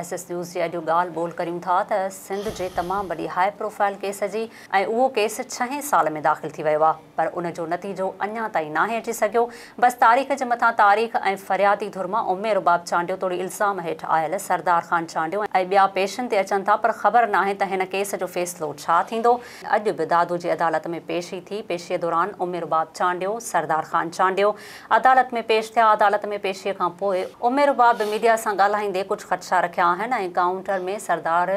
S S news جي اڄ ڳالهه ٻولهه ڪريون ٿا ته سنڌ جي تمام وڏي هاء پروفائل ڪيس جي ۽ اهو ڪيس ڇهين سال ۾ داخل ٿي ويو آهي پر ان جو نتيجو اڃا تائين ناهي اچي سگهيو بس تاريخ جي مٿان تاريخ ۽ فريادي ڌر مان امي رباب چانڊيو توڙي الزام هيٺ آيل سردار خان چانڊيو ۽ ٻيا پيشن تي اچن ٿا پر خبر ناهي ته هن ڪيس جو فيصلو ڇا ٿيندو اڄ به دادو جي عدالت ۾ پيشي ٿي پيشي دوران امي رباب چانڊيو سردار خان چانڊيو عدالت ۾ پيش ٿيا، عدالت ۾ پيشيء کان پوء عمير باب ميڊيا سان ڳالهائيندي ڪجهه خدشا رکيا آهن ۽ ڪائونٽر ۾ سردار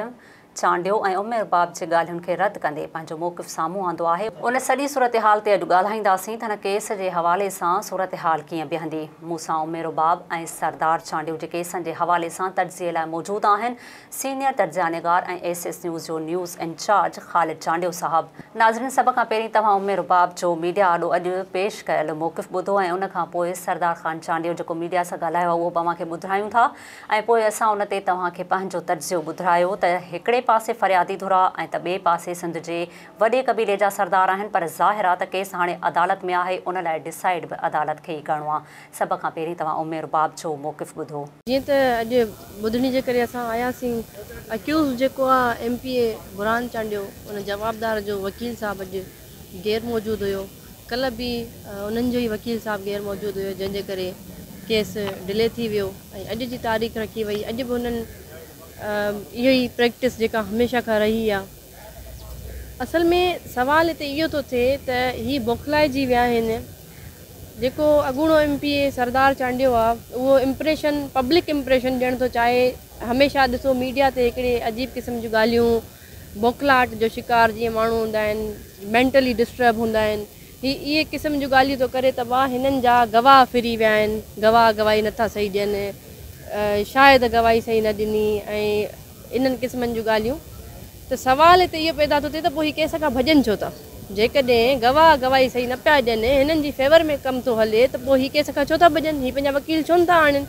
چانڊيو ۽ عمير باب جي ڳالهين کي رد ڪندي پنهنجو موقف سامهون آندو آهي، ان سڄي صورتحال تي اڄ ڳالهائينداسين ته هن ڪيس جي حوالي سان صورتحال ڪيئن بيهندي، مون سان عمير باب ۽ سردار چانڊيو جي ڪيسن جي حوالي سان تجزيي لاء موجود آهن، سينيئر تجزيانگار ۽ ايس ايس نيوز جو نيوز انچارج خالد چانڊيو صاحب. ناظرين سڀ کان پهرين توهان امي رباب جو ميڊيا آڏو اڄ پيش ڪيل موقف ٻڌو ۽ ان کان پوء سردار خان چانڊيو جيڪو ميڊيا سان ڳالهايو آهي اهو به اوهان کي ٻڌرايون ٿا ۽ پوء اسان ان تي توهان کي پنهنجو تجزيو ٻڌرايو ته هڪڙي پاسي فريادي ڌر آهي ۽ ته ٻئي پاسي سنڌ جي وڏي قبيلي جا سردار آهن پر ظاهر آهي ته ڪيس هاڻي عدالت ۾ آهي ان لاء ڊسائيڊ به عدالت کي ئي ڪرڻو آهي سڀ کان پهرين توهان ام رباب جو موقف ٻڌو. جيئن ته اڄ ٻڌڻي جي ڪري اسان آياسين اڪيوزڊ جيڪو آ M P A Burhan Chandio ان جوابدار جو وڪيل صاحب اڄ غير موجود ھيو ڪلھ به انھن جو ئي وڪيل صاحب غير موجود ھيو جنھن جي ڪري ڪيس ڊلي ٿي ويو ۽ اڄ جي تاريخ رکي وئي اڄ به انھن اھو ئي پريڪٽس جيڪا ھميشه کان رھي آ اصل ۾ سوال هتي اهو ٿو ٿئي ته هي بوکلائجي ويا آهن. جيڪو اڳوڻو M P A Sardar Chandio آهي اهو امپريشن پبلڪ امپريشن ڏيڻ ٿو چاهي هميشه ڏسو ميڊيا تي هڪڙي عجيب قسم جون ڳالهيون بوکلاهٽ جو شڪار جيئن ماڻهو هوندا آهن مينٽلي ڊسٽرب هوندا آهن هي اهي قسم جون ڳالهيون ٿو ڪري ته واه هنن جا گواهه ڦري ويا آهن گواهه گواهي نٿا صحيح ڏين شايد گواهي صحيح نه ڏني ۽ انهن قسمن جون ڳالهيون ته سوال هتي اهو پيدا ٿو ٿئي ته پوء هي ڪيس کان ڀڄن ڇو ٿا؟ جيڪڏهن گواهه گواهي صحيح نه پيا ڏين ۽ هنن جي فيور ۾ ڪم ٿو هلي ته پوء هي ڪيس کان ڇو ٿا ڀڄن؟ هي پنهنجا وڪيل ڇو نه ٿا آڻين؟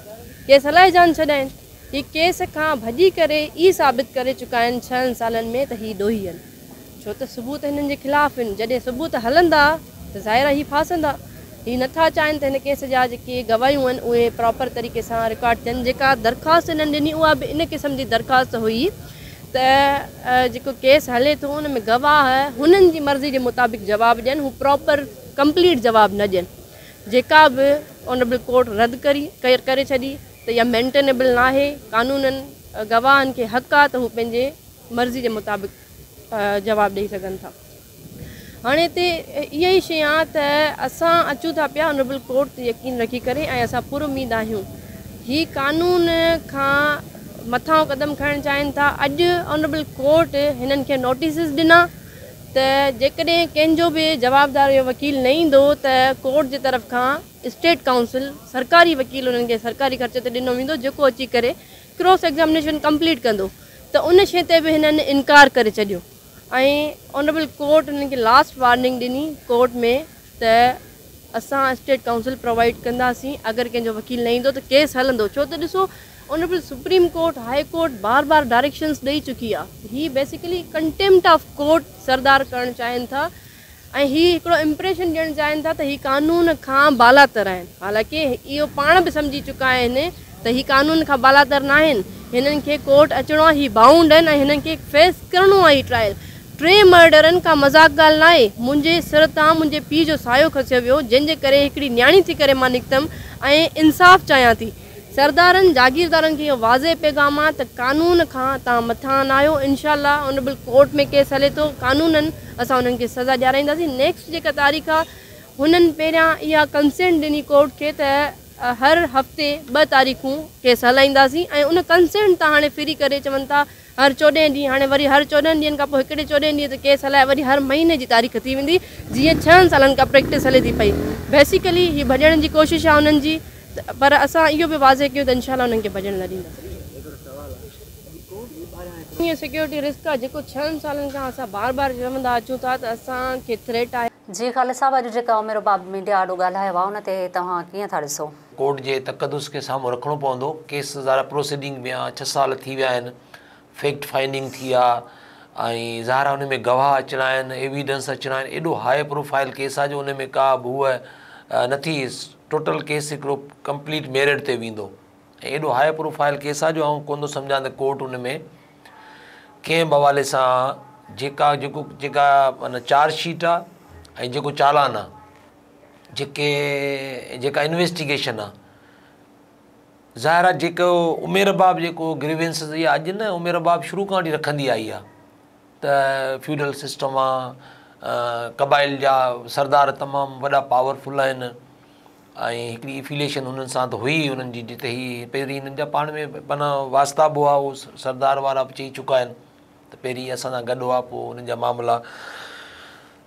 ڪيس هلائي جان ڇڏائين؟ هي ڪيس کان ڀڄي ڪري ئي ثابت ڪري چڪا آهن ڇهن سالن ۾ ته هي ڏوهي آهن. ڇو ته ثبوت هنن جي خلاف آهن، جڏهن ثبوت هلندا ته ظاهر آهي هي ڦاسندا. هي نه ٿا چاهين ته هن ڪيس جا جيڪي گواهيون آهن اهي پراپر طريقي سان رڪارڊ ٿين. جيڪا درخواست هنن ڏني اها به ان قسم جي درخواست هئي ته جيڪو ڪيس هلي ٿو ان ۾ گواهه هنن جي مرضي جي مطابق جواب ڏين هو پراپر ڪمپليٽ جواب نه ڏين جيڪا به آنريبل ڪورٽ رد ڪري ڇڏي ته اها مينٽينيبل ناهي قانونن گواهن کي حق آهي ته هو پنهنجي مرضي جي مطابق جواب ڏئي سگهن ٿا هاڻي هتي اها ئي شيء آهي ته اسان اچون ٿا پيا آنريبل ڪورٽ تي يقين رکي ڪري ۽ اسان پر اميد آهيون هي قانون کان مٿانهون قدم کڻڻ چاهين ٿا اڄ آنريبل ڪورٽ هنن کي نوٽيسز ڏنا ته جيڪڏهن ڪنهن جو به جوابدار اهو وڪيل نه ايندو ته ڪورٽ جي طرف کان اسٽيٽ ڪائونسل سرڪاري وڪيل انهن کي سرڪاري خرچ تي ڏنو ويندو جيڪو اچي ڪري ڪراس ايگزامينيشن ڪمپليٽ ڪندو ته ان شيء تي به هنن انڪار ڪري ڇڏيو ۽ آنريبل ڪورٽ هنن کي لاسٽ وارننگ ڏني ڪورٽ ۾ ته اسان اسٽيٽ ڪائونسل پرووائيڊ ڪنداسين اگر ڪنهن جو وڪيل نه ايندو ته ڪيس هلندو ڇو ته ڏسو honourable supreme court high court بار بار ڊائريڪشنس ڏئي چڪي آهي هي basically contempt of court Sardar ڪرڻ چاهين ٿا ۽ هي هڪڙو امپريشن ڏيڻ چاهين ٿا ته هي قانون کان بالاتر آهن حالانڪه اهو پاڻ به سمجهي چڪا آهن ته هي قانون کان بالاتر ناهن هنن کي ڪورٽ اچڻو آهي هي بائونڊ آهن ۽ هنن کي فيس ڪرڻو آهي ٽرائل ٽي مرڊرن ڪا مذاق ڳالهه ناهي منهنجي سر تان منهنجي پيء جو سايو کسيو ويو جنهن جي ڪري هڪڙي نياڻي ٿي ڪري مان نڪتم ۽ انصاف چاهيان ٿي. سردارن جاگيردارن کي اهو واضح پيغام آ ته قانون کان توهان مٿان نه آهيو انشاء الله اونريبل ڪورٽ ۾ ڪيس هلي ٿو قانونن اسان انهن کي سزا ڏيارائينداسين نيڪسٽ جيڪا تاريخ آ هنن پهريان اها ڪنسينٽ ڏني ڪورٽ کي ته هر هفتي ٻه تاريخون ڪيس هلائينداسين ۽ ان ڪنسينٽ تان هاڻي ڦري ڪري چون ٿا هر چوڏهن ڏينهن هاڻي وري هر چوڏهن ڏينهن کان پوء هڪڙي چوڏهين ڏينهن تي ڪيس هلائي وري هر مهيني جي تاريخ ٿي ويندي جيئن ڇهن سالن کان پريڪٽس هلي ٿي پئي بيسيڪلي هي ڀڄڻ جي ڪوشش آهي انهن جي پر اسان اهو به واضح ڪيون ته انشاء الله انهن کي ڀڄڻ نه ڏينداسين. هي سيڪيورٽي رسڪ آهي جيڪو ڇهن سالن کان اسان بار بار چوندا اچون ٿا ته اسان کي ٿريٽ آهي. جي خالد صاحب اڄ جيڪا عمر باب ميڊيا آڏو ڳالهايو آهي ان تي توهان ڪيئن ٿا ڏسو؟ ڪورٽ جي تقدس کي سامهون رکڻو پوندو، ڪيس ظاهر آهي پروسيڊنگ ۾ آ، ڇهه سال ٿي ويا آهن، فيڪٽ فائنڊنگ ٿي آ ۽ ظاهر آهي ان ۾ گواهه اچڻا آهن، ايويڊنس اچڻا آهن، ايڏو هاء پروفائل ڪيس آ جو ان ۾ ڪا به هوء نه ٿي، ٽوٽل ڪيس هڪڙو ڪمپليٽ ميرٽ تي ويندو ۽ ايڏو هاء پروفائل ڪيس آ جو آئون ڪونه ٿو سمجهان ته ڪورٽ ان ۾ ڪنهن به حوالي سان جيڪا جيڪو جيڪا معنيٰ چارج شيٽ آ ۽ جيڪو چالان آ، جيڪي جيڪا انويسٽيگيشن آ ظاهر آ جيڪو عمير باب جيڪو گريوينس اها اڄ نه عمير باب شروع کان وٺي رکندي آئي آ ته فيوڈل سسٽم آ قبائل جا سردار تمام وڏا پاورفل آهن ۽ هڪڙي افيليشن هنن سان ته هئي هنن جي جتي هي پهرين هنن جا پاڻ ۾ مانا واسطا به هئا اهو سردار وارا به چئي چڪا آهن ته پهرين اسان سان گڏ هئا پوء هنن جا معاملا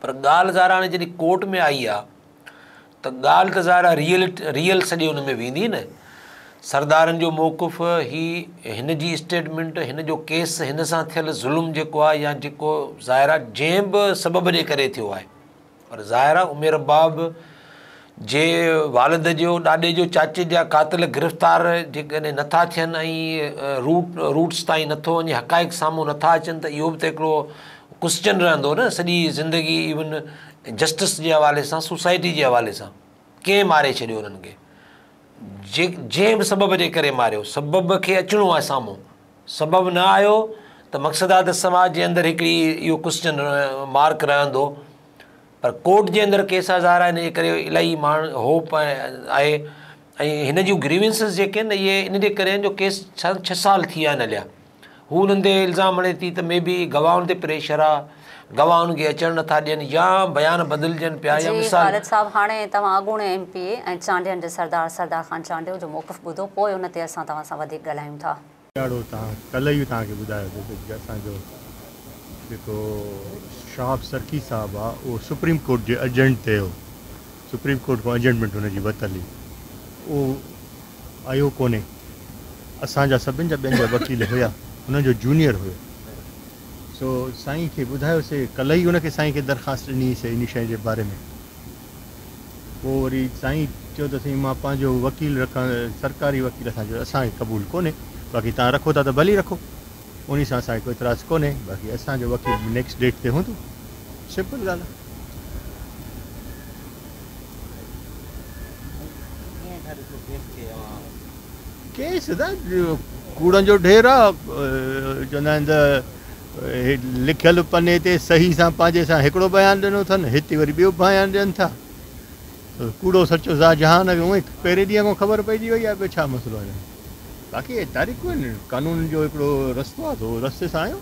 پر ڳالهه ظاهر هاڻي جڏهن ڪورٽ ۾ آئي آ ته ڳالهه ته ظاهر ريئل ريئل سڄي ان ۾ ويندي نه سردارن جو موقف هي هن جي اسٽيٽمنٽ هن جو ڪيس هن سان ٿيل ظلم جيڪو آ يا جيڪو ظاهر آ جنهن به سبب جي ڪري ٿيو آهي پر ظاهر آ عمير باب جي والد جو، ڏاڏي جو، چاچي جا قاتل گرفتار جيڪڏهن نه ٿا ٿين ۽ روٽ Roots تائين نه ٿو وڃي حقائق سامهون نه ٿا اچن ته اهو به ته هڪڙو Question رهندو نه سڄي زندگي Even Justice جي حوالي سان سوسائٽي جي حوالي سان ڪنهن ماري ڇڏيو انهن کي جي جنهن به سبب جي ڪري ماريو سبب کي اچڻو آهي سامهون سبب نه آيو ته مقصد آهي ته سماج جي اندر هڪڙي اهو Question Mark رهندو پر ڪورٽ جي اندر ڪيس هزار آهن انجي ڪري الائي ماڻهن هوپ آهي ۽ هن جون گريونسز جيڪي آهن اهي انجي ڪري آهن جو ڪيس سان ڇهه سال ٿي ويا آهن هليا هو انهن تي الزام هڻي ٿي ته مي بي گواهن تي پريشر آهي گواهه انهن کي اچڻ نٿا ڏين يا بيان بدلجن پيا يا مثال خالد صاحب هاڻي توهان اڳوڻي ايم پي اي ۽ چانڊين جي سردار سردار خان چانڊيو جو موقف ٻڌو پوء ان تي اسان توهان سان وڌيڪ ڳالهايون ٿا. ڏاڍو تان ڪلهه ئي توهان کي ٻڌايو ته جي اسان جو جيڪو شهاب سرڪي صاحب آ اهو سپريم ڪورٽ جي اجنٽ تي هو سپريم ڪورٽ کان اجنٽمينٽ هن جي وتل هئي اهو آيو ڪونهي اسان جا سڀن جا ٻين جا وڪيل هيا هن جو جونيئر هيو سو سائين کي ٻڌايو سي ڪلهه ئي ان کي سائين کي درخواست ڏني سي ان شئي جي باري ۾. پوء وري سائين چيو ته سائين مان پنهنجو وڪيل رکان سرڪاري وڪيل اسان جو اسان کي قبول ڪونهي باقي توهان رکو ٿا ته ڀلي رکو انهي سان اسان کي ڪو اعتراض ڪونهي باقي اسان جو وڪيل به نيڪسٽ ڊيٽ تي هوندو سمپل ڳالهه آهي. ڪيس ته ڪوڙن جو ڍير آهي چوندا آهن ته هي لکيل پني تي صحيح سان پنهنجي سان هڪڙو بيان ڏنو اٿن، هتي وري ٻيو بيان ڏين ٿا. ڪوڙو سچو ذا جهان کي اونئي پهرين ڏينهن کان خبر پئجي وئي آهي، ٻيو ڇا مسئلو آهي ڄڻ. باقي هي تاريخون آهن، قانون جو هڪڙو رستو آهي سو رستي سان آيو.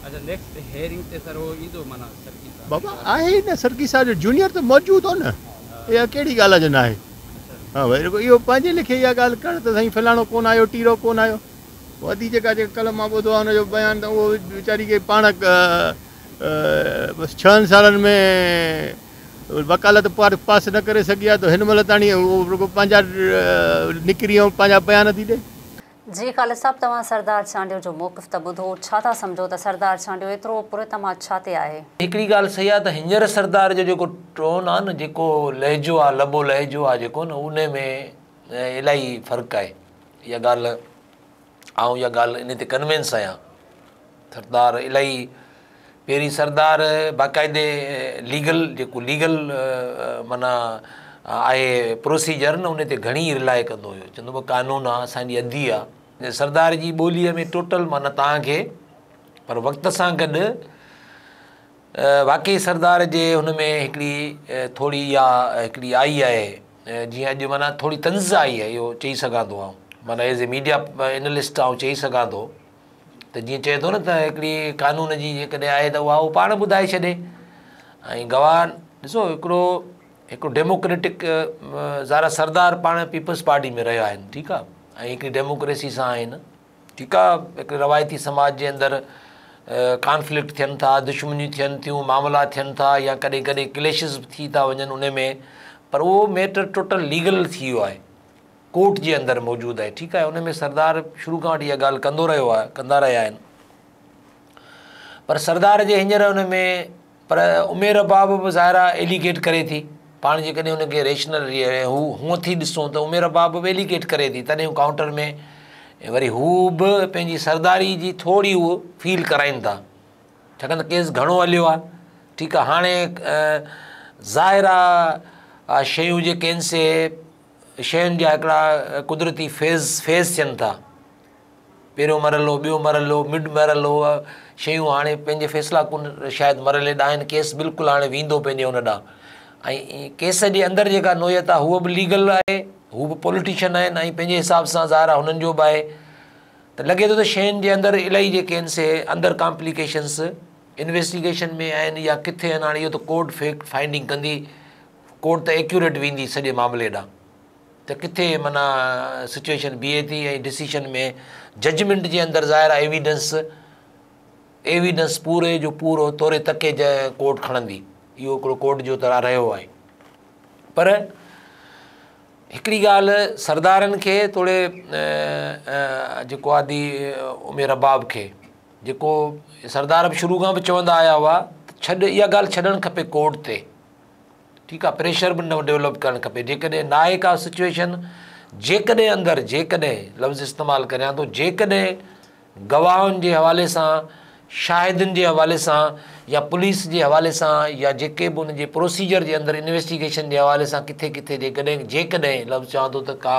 اچا نيڪسٽ هيئرنگ تي سر هو ايندو معنيٰ سرڪي صاحب. بابا آهي ئي نه سرڪي صاحب جو جونيئر ته موجود هو نه اها ڪهڙي ڳالهه آهي جو ناهي. اها وئي رڳو اهو پنهنجي ليکي اها ڳالهه ڪرڻ ته سائين فلاڻو ڪونه آيو ٽيرو ڪونه آيو. وادي جيڪا جيڪا ڪلهه مان ٻڌو آهي ان جو بيان ته اهو ويچاري کي پاڻ بس ڇهن سالن ۾ وڪالت پارت پاس نه ڪري سگهي آهي ته هن مهل تاڻي اهو رڳو پنهنجا نڪري ۽ پنهنجا بيان ٿي ڏي. جي خالد صاحب توهان سردار چانڊيو جو موقف ته ٻڌو ڇا ٿا سمجهو ته سردار چانڊيو ايترو پر اعتماد ڇا تي آهي؟ هڪڙي ڳالهه صحيح آهي ته هينئر سردار جو جيڪو ٽون آهي نه جيڪو لهجو آهي لبو لهجو آهي جيڪو نه انهي ۾ الائي فرق آهي. اها ڳالهه، آئون اها ڳالهه انهي تي ڪنوينس آهيان. سردار الائي پيرين سردار باقاعدي ليگل جيڪو ليگل معنيٰ آهي پروسيجر نه انهي تي گهڻي رلاء ڪندو هيو چوندو هو قانون آهي اسان جي ادي آهي. سردار جي ٻوليء ۾ ٽوٽل معنيٰ توهان کي پر وقت سان گڏ واقعي سردار جي هن ۾ هڪڙي ٿوري اها هڪڙي آئي آهي. جيئن اڄ معنيٰ ٿوري تنز آئي آهي اهو چئي سگهان ٿو آئون معنيٰ ايز اي ميڊيا اينلسٽ آئون چئي سگهان ٿو ته جيئن چئي ٿو نه ته هڪڙي قانون جي جيڪڏهن آهي ته اها پاڻ ٻڌائي ڇڏي ۽ گواهه ڏسو هڪڙو هڪڙو ڊيموڪريٽڪ زارا سردار پاڻ پيپلز پارٽي ۾ رهيا آهن ٺيڪ آهي ۽ هڪڙي ڊيموڪريسي سان آهن ٺيڪ آ هڪ روايتي سماج جي اندر ڪانفلڪٽ ٿين ٿا دشمنيون ٿين ٿيون معاملا ٿين ٿا يا ڪڏهن ڪڏهن ڪليشز به ٿي ٿا وڃن ان ۾ پر اهو ميٽر ٽوٽل ليگل ٿي ويو آهي ڪورٽ جي اندر موجود آهي ٺيڪ آهي ان ۾ سردار شروع کان وٺي اها ڳالهه ڪندو رهيو آهي ڪندا رهيا آهن پر سردار جي هينئر ان ۾ پر عمير باب به ظاهر آهي ايليگيٽ ڪري ٿي پاڻ جيڪڏهن ان کي ريشنل هو هونء ٿي ڏسون ته عمير باب به ايليگيٽ ڪري ٿي تڏهن هو ڪائونٽر ۾ وري هو به پنهنجي سرداري جي ٿوري هو فيل ڪرائين ٿا ڇاڪاڻ ته ڪيس گهڻو هليو آهي ٺيڪ آهي هاڻي ظاهر آهي شيون جيڪي آهن سي شين جا هڪڙا قدرتي فيز فيز ٿين ٿا پهريون مرحلو، ٻيو مرحلو، مڊ مرحلو اهي شيون هاڻي پنهنجي فيصلا ڪن شايد مرحلي ڏانهن آهن ڪيس بلڪل هاڻي ويندو پنهنجي ان ڏانهن ۽ ڪيس جي اندر جيڪا نوعيت آهي هوء به ليگل آهي هو به پوليٽيشن آهن ۽ پنهنجي حساب سان ظاهر آهي هنن جو به آهي ته لڳي ٿو ته شين جي اندر الائي جيڪي آهن سي اندر ڪامپليڪيشنس انويسٽيگيشن ۾ آهن يا ڪٿي آهن هاڻي اهو ته ڪورٽ فيڪٽ فائنڊنگ ڪندي ڪورٽ ته ايڪيوريٽ ويندي سڄي معاملي ڏانهن ته ڪٿي معنيٰ سچوئيشن بيهي ٿي ۽ ڊسيشن ۾ ججمينٽ جي اندر ظاهر آهي ايويڊنس ايويڊنس پوري جو پورو توري تڪي جي ڪورٽ کڻندي اهو هڪڙو ڪورٽ جو ترا رهيو آهي پر هڪڙي ڳالهه سردارن کي توڙي جيڪو آدي امير رباب کي جيڪو سردار به شروع کان به چوندا آيا هئا ته ڇڏ اها ڳالهه ڇڏڻ کپي ڪورٽ تي ٺيڪ آ پريشر به نه ڊيولپ ڪرڻ کپي جيڪڏهن ناهي ڪا سچويشن جيڪڏهن اندر جيڪڏهن لفظ استعمال ڪريان ٿو جيڪڏهن گواهن جي حوالي سان شاهدن جي حوالي سان يا پوليس جي حوالي سان يا جيڪي به ان جي پروسيجر جي اندر انويسٽيگيشن جي حوالي سان ڪٿي ڪٿي جيڪڏهن جيڪڏهن لفظ چوان ٿو ته ڪا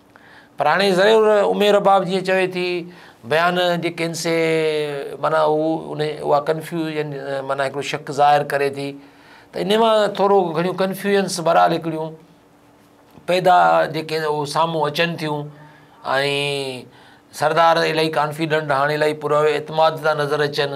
پر هاڻي ضرور امير رباب جيئن چوي ٿي بيان جي ڪينسي معنيٰ هو ان اها ڪنفيوجن معنيٰ هڪڙو شڪ ظاهر ڪري ٿي ته ان مان ٿورو گهڻيون ڪنفيوجنس بهرحال هڪڙيون پيدا جيڪي اهو سامهون اچن ٿيون ۽ سردار الاهي ڪانفيڊنٽ هاڻي الاهي پر اعتماد ٿا نظر اچن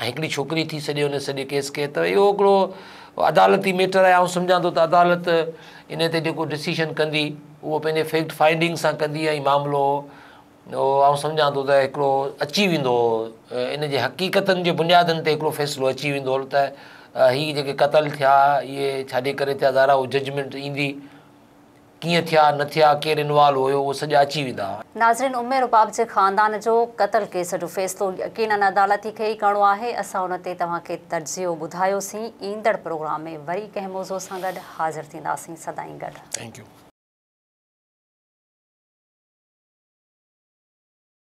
۽ هڪڙي ڇوڪري ٿي سڄي ان سڄي ڪيس کي ته اهو هڪڙو عدالتي ميٽر آهي آئون سمجهان ٿو ته عدالت ان تي جيڪو ڊسيشن ڪندي اهو پنهنجي فيڪٽ فائنڊنگ سان ڪندي ۽ معاملو آئون سمجهان ٿو ته هڪڙو اچي ويندو ان جي حقيقتن جي بنيادن تي هڪڙو فيصلو اچي ويندو ته هي جيڪي قتل ٿيا اهي ڇاجي ڪري ٿيا ظاهر اهو ججمنٽ ايندي ڪيئن ٿيا نه ٿيا ڪير انوالو هيو اهو سڄا اچي ويندا. ناظرين امي رباب جي خاندان جو قتل ڪيس جو فيصلو يقينن عدالت ئي ڪيئي ڪرڻو آهي اسان ان تي توهان کي تجزيو ٻڌايوسين ايندڙ پروگرام ۾ وري ڪنهن موضوع سان گڏ حاضر ٿينداسين سدائين گڏ. Thank you.